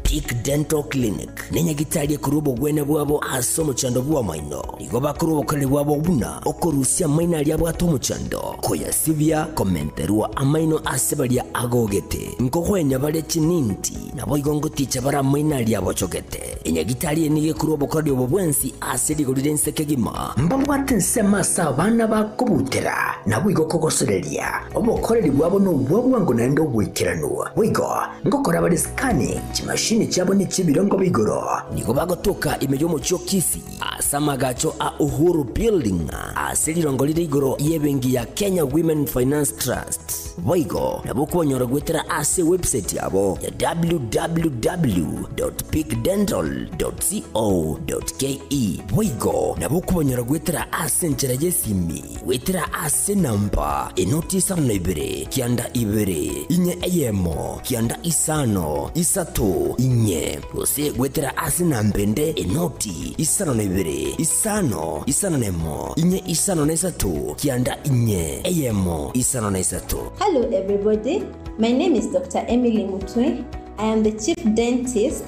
Tick Dental Clinic ne nyagitari ekorwa obogwene bwabo ase omochando bw'amaino. Nigo bakora obokoreri bwabo buna okorusia amaino aria abwate omochando, koyasibia, komenterwa amaino ase baria agogete, nkogoenya bare chininti, naboigo ngoticha bare amaino aria abochogete. Enyagitari eye nigo ekorwa obokoreri obo bwensi ase rigori ri'ense kegima. Mbabwate ensemo ase abana bakobutera, naboigo okogosoreria, obokoreri bwabo nobwa bwango naende oboikeranu. Boigo, ngokora bare scanning, chimashini chiabo nechi'ebirongo bia igoro. Nigo bagotoka ime y'omochie o Kisi. Ase amagacho a Uhuru Building ase riroongo rire igoro y'ebenki ya Kenya Women Finance Trust. Boigo nabwo konyora goetera ase ewebsaiti yabo ya www.peakdental.co.ke. Boigo nabwo konyora goetera ase enchera y'esimi Goetera ase namba enoti isano na ibere, kianda ibere, inye eyemo, kianda isano, isato, inye. Gose goetera ase namba ende enoti isano na ibere, isano, isano na emo, inye isano na isato, kianda inye, eyemo, isano na isato. Hello everybody, my name is Doctor Emily Mutwe, I am the chief dentist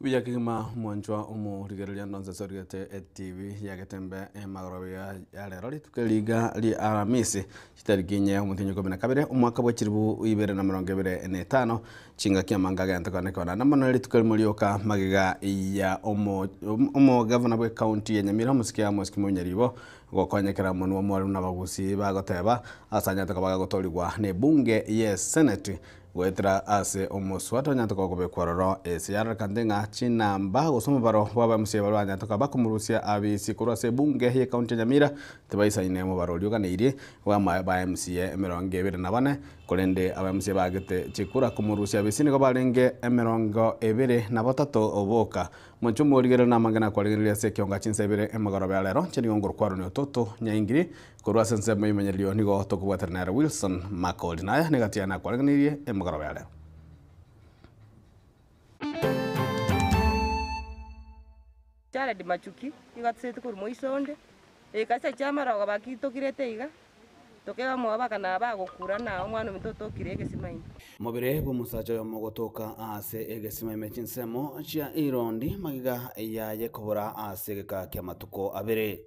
Mbuya kegima mwanchwa omorigereria ndonsi ase origete etv ya Getembe magoroba iga ya rero rituko eri iga ria aramisi chitariki inye omotienyi ikomi na kabere omwaka bwa chiribu ibere na emerongo ebere na etano chingaki amange agento kone kone naende mono rituko erimo rioka magega ya omo omo omogavana bwe county ya Nyamira omosike Amos Kimonyo Nyaribo gokonyekera omonwa omoremu na abagusii bagoteba ase anyare koba agagotorigwa na ebunge ye eseneti Goetera ase omoswa tonyatoka kobekwa ororo, ase yararakanete ng'a chinamba gose omobaro bw'abamuchie baria banyatoka bakomorusia abisi korwa ase ebunge y'Ekaunti ya Nyamira tibaisaine omobaro oria oganeirie bw'amayo b'abamuchie emerongo ebere na bane, korende abamuchie baagete chikura komorusia abisi nigo barenge emerongo ebere na batato boka. Mochie omorigererio namang'ana akwaregereire ase ekeonga chinsa ibere emogoroba ya rero, chiri ng'a okorokwa rore ototo nyaingiri, Korwa ase ensemo y'Omonyarerio nigo tokobwatera nere Wilson Makori, na aya negati yane akwarengereirie emogoroba ya rero. Jared Machuki, nigo atisaete korwa moiso onde, Ekanisa chiama rogo baki tokirete iga, tokeba mwabaka na abagokura na omwana ominto otokire egesimaime. Mobere bw'omosacha oyomo gotoka aase egesimaime chinsemo chia irondi magega yaye kobora aase egeka ki'amatuko abere.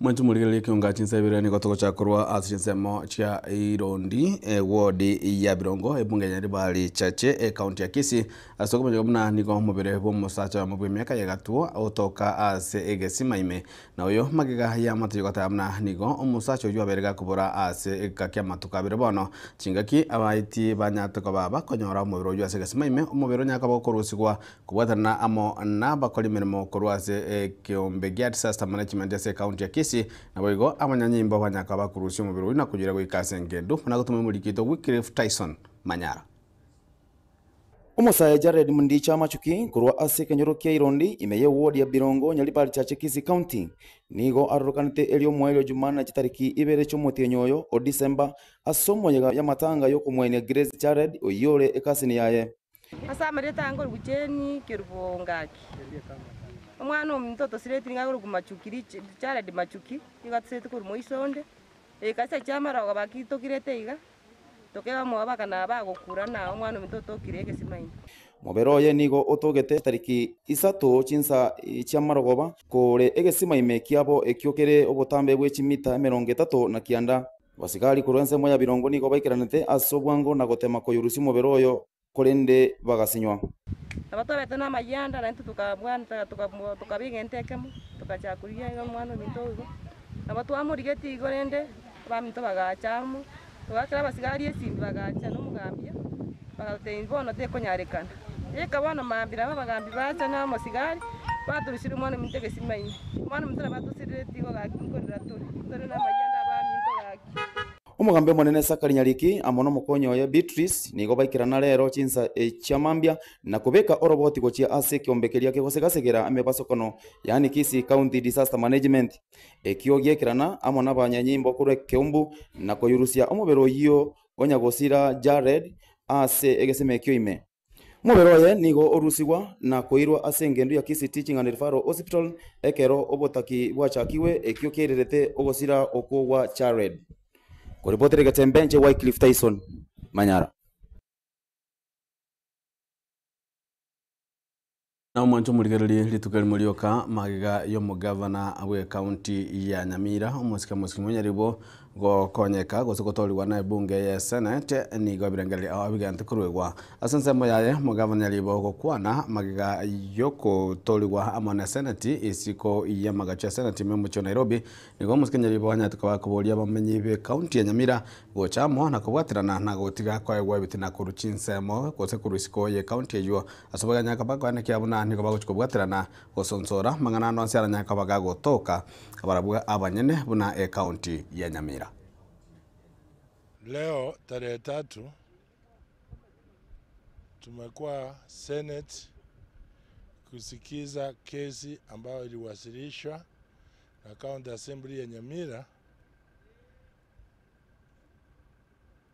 Mwanche morigererie ekeonga chinsa ibere nigo togochaka korwa ase chinsemo chia Irondi, ewodi ya Birongo, ebunge ya Ribari Chache, ekaunti ya Kisii. Ase okomanywa buna nigo omobere bw'omosacha oyomo bw'emiaka ya egatwo otoka ase egesima ime, na oyo magega y'amatoyo gataya buna nigo omosacha oyio abeire gakobora ase egeka ki'amatuko abere bono. Chingaki abaiti banyarete koba bakonyora omobere oyio ase egesima ime, omobere onyare koba okorusigwa Kobwatanana amo n'abakor'emeremo korwa ase ekeombe gia Disaster Management ase ekaunti ya Kisii, naboigo abanyanyimbo banyaka bakurusie omobere oyio na koyira goika ase engendu buna gotuma omorikito Wycliffe Tyson Manyara. Omosae Jared Mdicha Machuki korwa ase ekenyoro kia Irondi ime ye ward ya Birongo, Nyaribari Chache Kisii County, nigo arorokanete erio mwaerio Jumanne chitariki ibere chi'omotienyi oyo o December ase omoyega y'amatanga y'okomoenia Grace Jared oyio ore ekasini yaye. Ase amarieta aya nkorokwa Jane Kerubongaki. Omwana ominto otosireti nigo akorokwa Machuki, Jared Machuki, nigo atosireti korwa moiso onde. Egekasya kia amarogo bakitokirete iga, tokeba omobaba aka nabo agokura na omwana ominto otokire egesima ime. Mobere oye nigo otogete chitariki isato chinsa chi'amarogoba kore egesima ime kiabo ekio kere obotambe bwe chimita emerongo etato na kianda. Abasigari korwa ensemo ya birongo nigo baikeranete ase obwango na gotema koyorusia omobere oyo, korende bagasinywa. Nabo twarete namayie ande, naintwe tokabwancha, tokaba egento ekemo, togachaka korigia iga omwana ominto oo igo. Nabo twamorigetie igo rende, abaminto bagacha amo, togaakera abasigari esimbi, bagacha nomogambia, bagatotebia bono tekonyarekana. Rika bono mambia b'abagambi baacha nomosigari, batorosirie omwana-ominto egesima ime. Omwana-ominto nabatosirire etigo gaki nkorera tore, tore namayio ande abaminto gaki. Omogambi omonene Sakari Nyariki amo nomokonyi oye Beatrice nigo baikerana reero chinsa echia mambia na kobeka oroboti gochia ase ekiombe keria kegosegasegera emebasokano yaani Kisii County Disaster Management ekio giekerana amo nabanyanyimbo korwa ekeumbu na koyurusia omobere oyio onye gosira Jared aase egesima ekio ime. Omobere oye nigo orusigwa na koirwa ase engendu ya Kisiti Ching'ana Referral Hospital ekero obotaki bwachakigwe ekio kiairerete ogosira okwo gwa Jared. Koripotire egetembe inche Wycliffe Tyson Manyara. Na omwancho omorigereria rituko rimo rioka magega y'omogavana bw'ecounty ya Nyamira, omosike mosike monyaribo gokonyeka gose gotoorigwa na ebunge ye senate, nigo ebirengererio ao bigentwe koruegwa. Ase ensemo yaye, omogavana nyaribo gokwana magega y'ogotoorigwa amo ne seneti. Isiko y'amagacho ya seneti ime omochie o Nairobi, nigo omosike nyaribo anyarete koba koboria abamenyi b'ecounty ya Nyamira gocha amo na kobwaterana na gotiga koegwa ebitina korwa chinsemo gose korwa isiko y'ecounty eywo Ase obogima kaba koenekia buna nigo bagochia kobwaterana gosonsora amang'ana ande onsi aranyare koba gagotoka barabwo abanyene buna ecounty ya Nyamira. Leo tarehe tatu tumekua senate kusikiza kesi ambayo iliwasilishwa na county assembly ya Nyamira.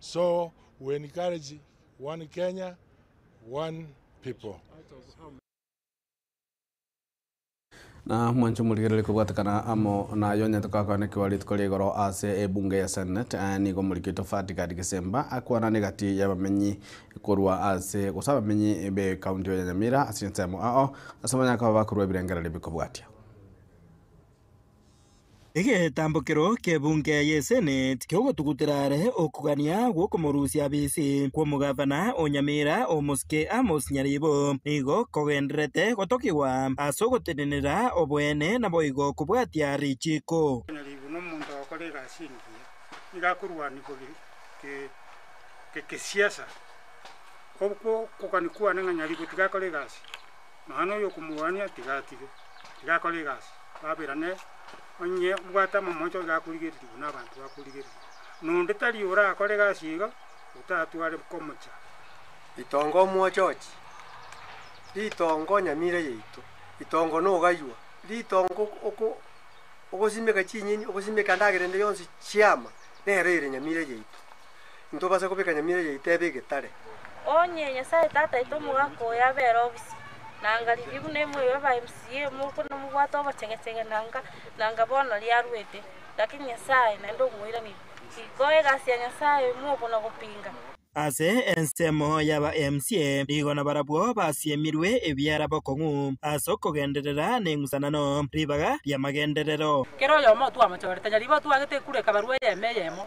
so we encourage one Kenya one people. Na mwanche omorigereri kobwatekana amo naye onyete koakanekigwa rituko ria igoro ase ebunge ya Senate. Aye nigo omorikito Fatgard Gisemba akwanane egati y'abamenyi korwa ase gose abamenyi be county ya Nyamira ase ensemo ao ase abanyare koba bakorua ebirengererio bikobwatia. Egetambokero k'ebunga ye Seneti ki'ogotugutera are okogania gw'okomorusia bisi kw'omogavana o Nyamira omosike Amos Nyaribo, nigo kogendererete gotokigwa ase ogotenenera oboene naboigo kobwatia richiiko. Nyaribo nomonto ogokora egasi engiya, nigo akorwanigwa gekesiasa. Okogania kwane ng'a Nyaribo tigakore egasi. Nonya noyokomorwania tiga atige, tiga akore egasi, baberane, onye mbwate amamoncho iga akorigereria buna abanto bakorigereria. Na onde tari orakore egasi iga, otatware komocha. Ritongo omwochochi, ritongo nyamira yaito, ritongo nogaywa, ritongo oko ogosimeka chinyeni, ogosimeka endagera ende yonsi chiama, nero ere nyamira yaito. intobase kobeka nyamira yaito ebe egetare. Onye Nyasae Tata aito omogaka oyo abe ere obisa, nangaririe buna imwe aba MCA mokwe nomobwate obochegechege nanga nanga bono riaruete, lakini Nyasae naende omoirani riko egasi ya Nyasae mobo na gopinga. Ase ensemo y'aba MCA nigo nabarabwo basiemirwe ebiara bokong'u ase okogenderera neng'usanano ribaga riamagenderero. Kera oyomo otwamochorete nyaribo otwagete ekura ekabarwa eyemo eyemo,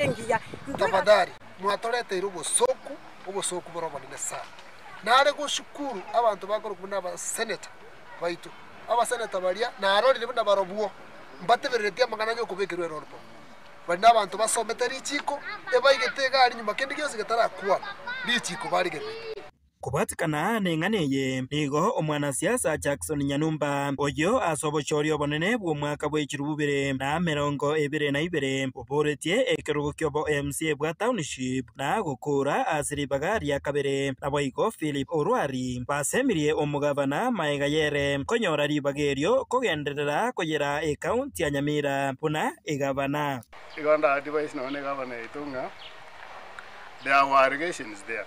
engiya. Tafadhali mwatoreteire obosooku, obosooku bore obonene sana. Nare goshukuru abanto bakorokwa buna abaseneta baito. Abaseneta baria narorire buna barobwo mbatebereretie amang'ana y'okobekerwa erorbo. Bari nabanto basomete richiiko, ebaigete egari nyuma kende gionsi getarakwana, richiiko barigererete. Kobwatikana neng'ana eye, nigo omwanasiasa Jackson Nyanumba, oyio ase obochooria obonene bw'omwaka bwe chirubu bibere na emerongo ebere na ibere, oboretie ekerogo kiobo mca bwa Township na gokoora ase ribaga ria kabere. Naboigo Philip Orwari basemirie omogavana maega yere konyora ribaga erio kogenderera koyera ekaunti ya Nyamira buna egavana. Igo nda advise nonye egavana yaito ng'a there were allegations there.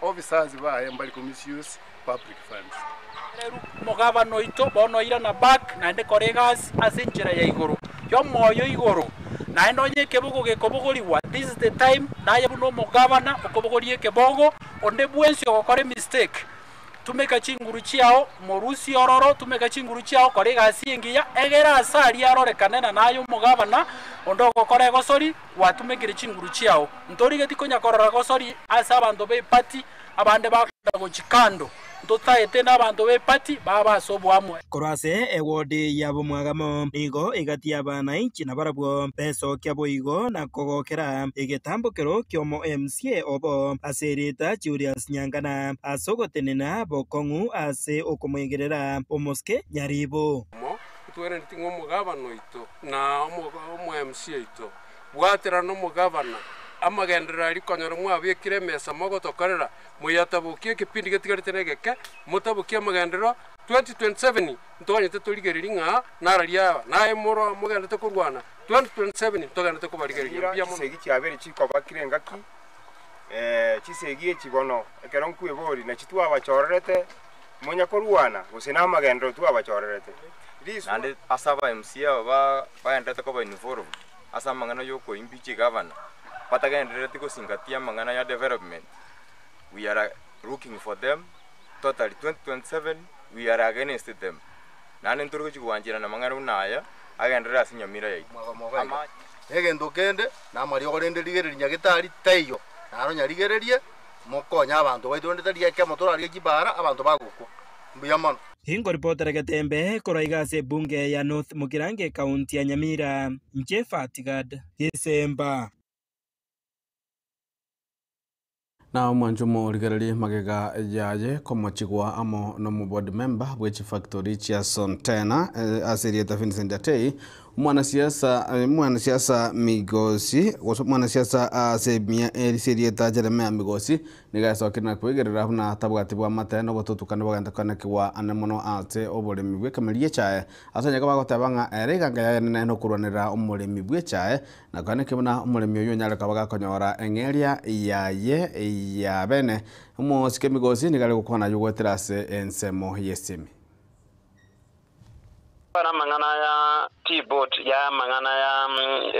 Officers baye mbari ko misuse public funds. Ereru omogabana oito bono oirana back naende kora egasi ase enchera ya igoro yomoyo igoro naende onye ekebogo gekobogorigwa this is the time naye buna omogabana okobogoria ekebogo onde bwensi ogokora emistake tumeka chinguru chiao morusie ororo tumeka chinguru chiao kora egasi engiya egere ase aria arorekane na naye omogabana onde ogokora egosori gwatumekire chinguru chiao, ntorigeti konya korora gosori ase abanto b'epati abande bagocha gochia kando, ntotaete n'abanto b'epati baabo ase oboamwe. Korwa ase ewodi y'abomwagamo nigo egati y'abaanainchi nabarabwo besokia boigo na kogokera egetambokero ki'omo MCA obo ase erieta Julius Nyangana ase ogotenena bokong'u ase okomoegerera omosike nyaribu. Ntwenereti ng'a omogabana oito na omo-MC oito, bwatera nomogabana amagenderero aria, konyora mwabekire emesa mogotokorera, moyatabokie ekepindi getigarete na egeke, motabokie amagenderero 2027 ntoganyete torigereria ng'a nararia aba, na aye moro mogenderete korwana 2027 ntogenderete kobarigereria. Mira Mbuya mono. chisegi chiabere chikoba kire engaki, chisegi echi bono ekero nkweboria nachi twabachorerete. Monya korwana gose namagenderero twabachorerete, naende ase aba MC aba bagendererete koba involved ase amang'ana y'okoimbi chigavana batagenderereti gosingatia amang'ana ya development, we are looking for them totally 2027 we are against them naende ntorigochia kogwancherana amang'ana buna aya agenderere ase nyamira yaito. Egento kende namariogo rende rigereria nyagetari taiyo, naro nyarigererie. mokonye abanto baito, rende tari ekemo torarue chibaara abanto bagokwa. Mbuya mono. Ingo report ere getembe korwa iga ase ebunge ya North Mugirango ecounty ya Nyamira. Inche Fatgard. Isemba. Na omwancho omorigererie magega yaye komochigwa amo nomoboard member bwe chifactory chia Sontena ase erieta Vincent Atei Omwanasiasa, omwanasiasa Migosi, gose omwanasiasa ase emiya eri ase erieta Jeremia Migosi, nigo asookire na kwegerera buna atabwati bw'amate na obotutukani bogenta koanekigwa ane mono ase oboremi bw'ekemeeri y'echae. Ase onye kobagoteeba ng'a ere eganga y'ayane naende nokorwanera omoremi bw'echae, nako naki buna omoremi oyio onyare koba gakonyora eng'eria yaye y'abene. Omosike Migosi nigo are gokwana aywo goetera ase ensemo y'esemi. Kwana amang'ana aya T-Board ya amang'ana ya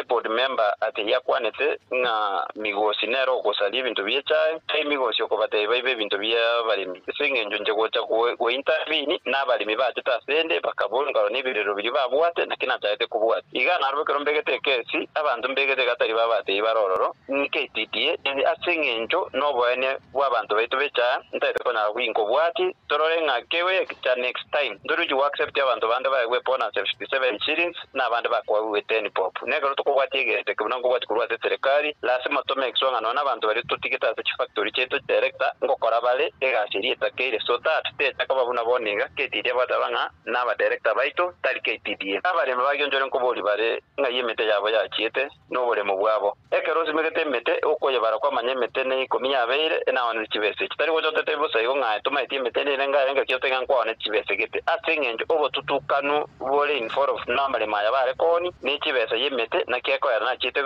eboard member ake yakwanete ng'a migosi nere ogosaria ebinto bie chae, tari migosi okobatebia baibe ebinto bia abaremi. Ase eng'encho inche gocha gointervene nabaremi bachete asende bakabua engaro ne ebirerero biria babwate naki nachaete kobwati. Iga naro ekero mbegete ekesi abanto mbegete iga tari babatebia bare ororo. Nkaititie ebi ase engencho noboene bwabanto baito b'echaaya, ntaete konyara goinka obwati, torore ng'a kegoe egecha next time ntoruchi go accept abanto bande baegwe bonus ya 57 shillings na abande bakoagwe 10 bob. Na ekero tokobwati egento eke buna nkobwati korwa ase eserekari, lasima tome egeswang'ano nabanto baria totigete ase chifactory chiaito chia erector ngokora bare egasi eria etakeire so that techa koba buna bono iga ketitie agoetaba ng'a naba director baito tari ketitie. Abaremi bagionchore nkobori bare ng'ai emete yabo yachiete. noboremu bwabo. Ekero osimegete emete, okoyebara kwamanya emete ne ikomi yabeire enaonete chibese. Chitari gochotete bosa igo ng'a tomaeti emete eria erenge aye ngaki otoige nkwaonete chibese gete, ase engencho obotutukanu bore in forof namaremo aya bare kooni ne chibesa y'emete naki ekoera nachiete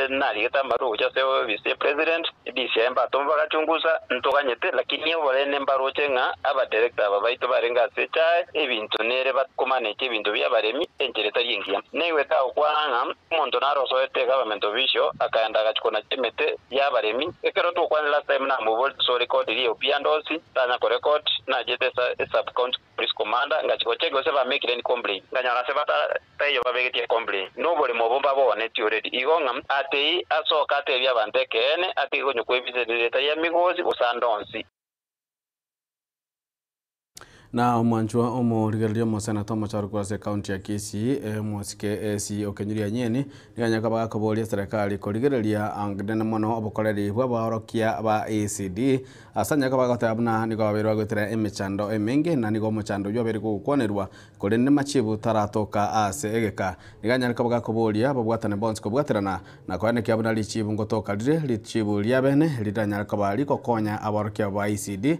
narigete amarwa gocha ase ofisi ye president disi aye mbatoma bagachungusa ntoganyete lakini oborene mbaroche ng'a aba director aba baito barenge ase chae ebinto nere bat komaneti ebinto bia abaremi enchera etari engiya. Naigwete agokwana ng'a Omonto narosoete eGovernment Official akaenda agachia konachia emete y'abaremi. Ekero togokwana last time namoborie ase ore koti ria Opiandosi tanya korecord, nachete ase eSub County Police Commander ngachia gocheki gose bamekire any complaint. Nkanyora ase bata taiyo babegetie complaint. Noboremo obo mbabogonetie already igo ng'a atei asoke atebie abanto ekeene atige konywa kwebisa emiriri etari emigosi gose ande onsi. Na omwanchwa omorigereria omoseneta omochorokwa ase ekaunti ya Kisii Mwasike Esi Okenyuria Anyeni nigo onye koba gakoboria eserekari korigereria nene mono obokoreri bw'abaorokia ba ECD ase onye koba goteba buna nigo babeire bagoetera emechando emenge na nigo omochando oyio obeire kogokwanerwa korende machibu taratoka ase egeka nigo anyare koba gakoboria babwatane bonsi kobwaterana na koenekia buna richibu ngotoka rire richibu riabene riranyare koba rigokonya abaorokia abo ba ECD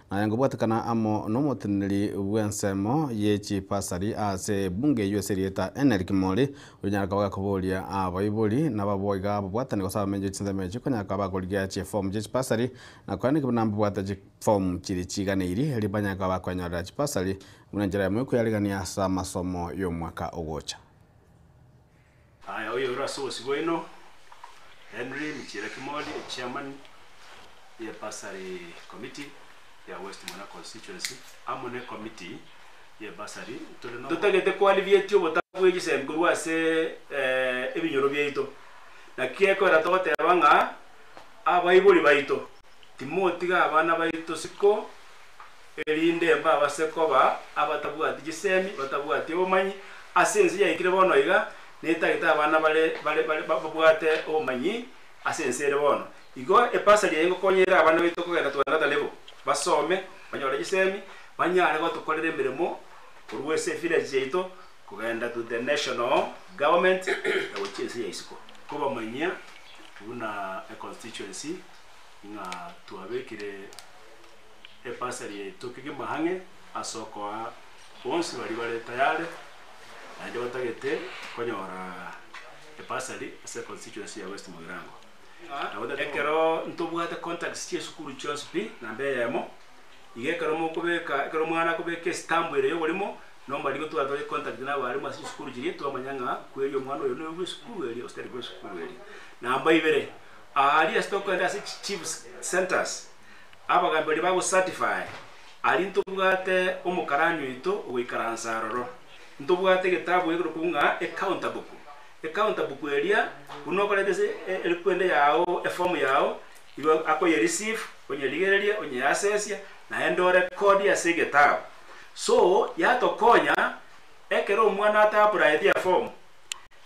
Naye ngobwatekana amo nomoteneneri bw'ensemo ye chibasari ase ebunge eyio ase erieta Eneri Kimori, onyare koba gakoboria abaibori nababoiga ababwatani gose abamenyi be chinsemo echio konyara koba bagorigia chifomu chie chibasari na korende buna mbabwate chifomu chiria chiiganeiri erio banyare koba bakwenyorera chibasari buna enchera yamo yokoyaregania ase amasomo y'omwaka ogocha. Aya oyoirwe ase obosibwa oino Henry Michira Kimori, Echairman ye Bursary Committee ya West Mura Constituency amo ne Committee ye Bursary. Tore no. Totagete ko alleviate obotabu bwe chisemi korwa ase ebinyoro biaito. Naki gekoira togoteba ng'a abaibori baito Timotiga abana baito isiko, erinde mbabase koba abatabwati chisemi, batabwati obomanyi, ase ense yaikire bono iga, netagete abana bare bare bare babwate obomanyi ase ense ere bono. Igo ebasari eye ngokonya ere abana baito kogenda twengatane bo, basome, banyore chisemi, banyare gotokorera emeremo korwa ase evillage yaito kogenda to the national government, na gochia ense ya isiko. Kobamanyia buna econstituency. ng'a twabekire ebasari yaito kegima ang'e ase okoa bonsi baria bare tayare naende batagete konyora ebasari ase constituency ya West Mugirango. Ekero ntobwate contacts chi'esukuru chionsi pi na mbe eyemo, iga ekero mokobeka, ekero omwana akobeka estamp ere y'oborimo, na omarigo twaba tore contact na abarimu ase chisukuru chiria, twamanya ng'a kweri omwana oyo noyo bw'esukuru eria gose tari bw'esukuru eria. Namba ibere. Aria ase tokogenda ase chi chief centres, abagaambi baria bagocertify, aria ntobwate omokarani oito ogoikaransa aroro. Ntobwate egetabu egeroku ng'a ecounter book. Ecounter book eria buna okoreta ase erikwende yao eform yao, igo akoyereceive, onyerigereria, onyeasesia, naende orekodie ase egetabu. So yatokonya ekero omwana ataapplyete eform,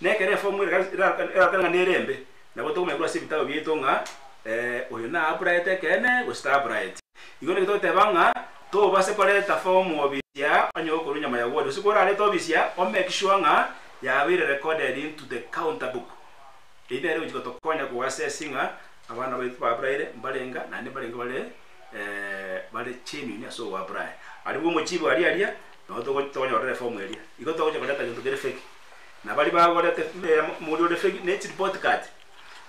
Nekero efomu erarokana ng'a nere embe, nabo tokomenyerwa ase ebitabu biaito ng'a ee, oyo naaburayete ekeene, gose taburayeti. Igo naki togoteba ng'a tobase koreta fomu obisia onye gokorwa nyuma ya bwori, gose kworarete obisia o make sure ng'a yabeire recorded into the counter book. Eyio nere egochika gotokonya ko assess ng'a abana baito baburaire mbarenge ng'a naende mbarenge bare ee bare genuine ase ogoaburaya. Aribwo omochibi aria aria, nabo togo tokonyorera efomu eria. Igo togocha koreta gento kere fake. na baria bagorete omori ore fegi, ne chiripoti-kati.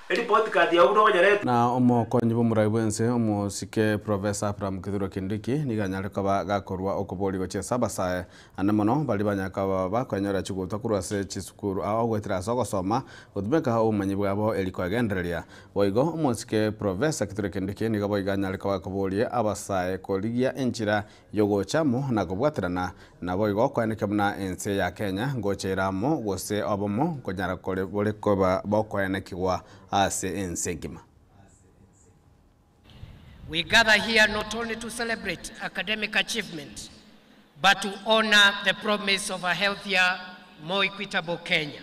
Eripoti-kati yao buna onyarete. Na omokonyi bw'omorai bw'ense, omosike Professor Abraham Kithure Kindiki, nigo anyare koba gakorua okobooria gochia ase abasae ande mono baria banyare koba bakoenyorera chigutwa korwa ase chisukuru ao goetera ase ogosoma gotumeka obomanyi bwabo erio koegendereria. Boigo, omosike Professor Kithure Kindiki nigo boigo anyare koba gakoboorie abasae korigia enchera Yogocha amo na kobwaterana, naboigo kweneke buna ense ya Kenya ngocha ere amo gose obomo nkonyara kore bore koba bokoenekigwa ase ense engima. We gather here not only to celebrate academic achievement but to honor the promise of a healthier, more equitable Kenya.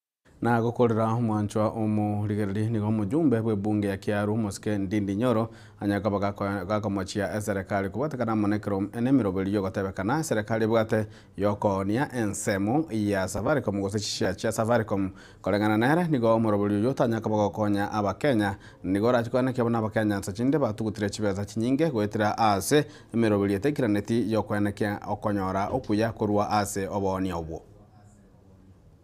Na gokorera omwanchwa omorigereria nigo omojumbe bw'ebunge ya Kiaru, Omosike Ndindi Nyoro, onye koba gakomochia eserekari kobwatekana amo nekero nemeroberio yogotebekana eserekari ebwate yokoonia ensemo ya Safaricom gose chishare chia Safaricom. Koreng'ana nere, nigo omoroberio oyio otanya koba gokonya Abakenya. Nigo orachie kwane kiabo n'Abakenya nsa chinde batugutire chibesa chinyinge goetera aase emeroberio etaikiraneti yokwenekia okonyora okuya korwa ase oboonio obwo.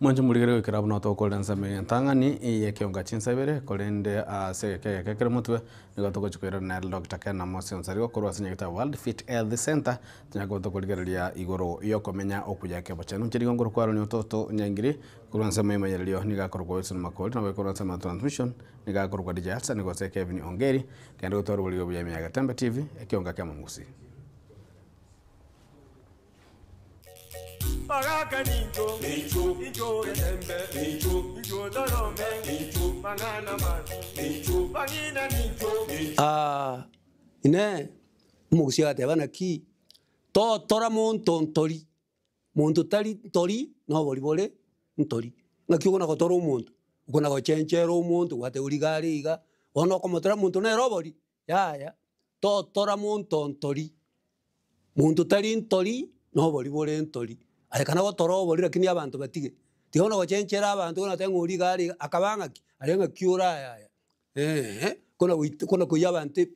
Mwanche morigere goikera buna otokorera ensemo eye entang'ani, eye ekeonga chinsa ibere, korende ase egeka egeke kere motwe, nigo togochia koirora nere Doctor Ken Amosi Onsarigo korwa ase nyagetabu World Fit Health Centre, tonyare koba tokorigereria igoro y'okomenya okuya ekebochani. Inche rigongoro kwarorire ototo Nyangiri korwa ensemo ya Imayererio, nigo akorokwa Wilson Makori, nabo korwa ensemo ya Transmission, nigo akorokwa DJ Hassan, gose Kevin Ongeri, kende gotwarwa boriga buya ime ya Gatembe TV, ekeonga kiamong'usi. Bagaka nincho, nincho, nincho etembe, nincho, nincho torombe, nincho, mang'ana mati, nincho, bang'ina nincho, nincho. Aa, Inee! Omogusii agateba, Naki totora monto ntori? Monto tari ntori nobori bore ntori. Naki okona gotora omonto? Okona gochenchera omonto, gwate origa are iga, bono okomotora monto nere obori? Yaya, totora monto ntori, monto tari ntori nobori bore ntori, aye kana gotora obori lakini abanto batige. Tiga buna gochenchera abanto buna goteba ori iga ari iga akaba ng'aki? Are ng'aki ore ayaya? Eeh kona goita kona koiyia abanto ebi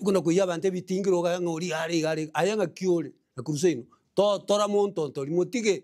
kona koiyia abanto ebitingiro okanye ng'a ori iga are iga are iga aye ng'aki ore? Nakuruseino totora monto ntori motige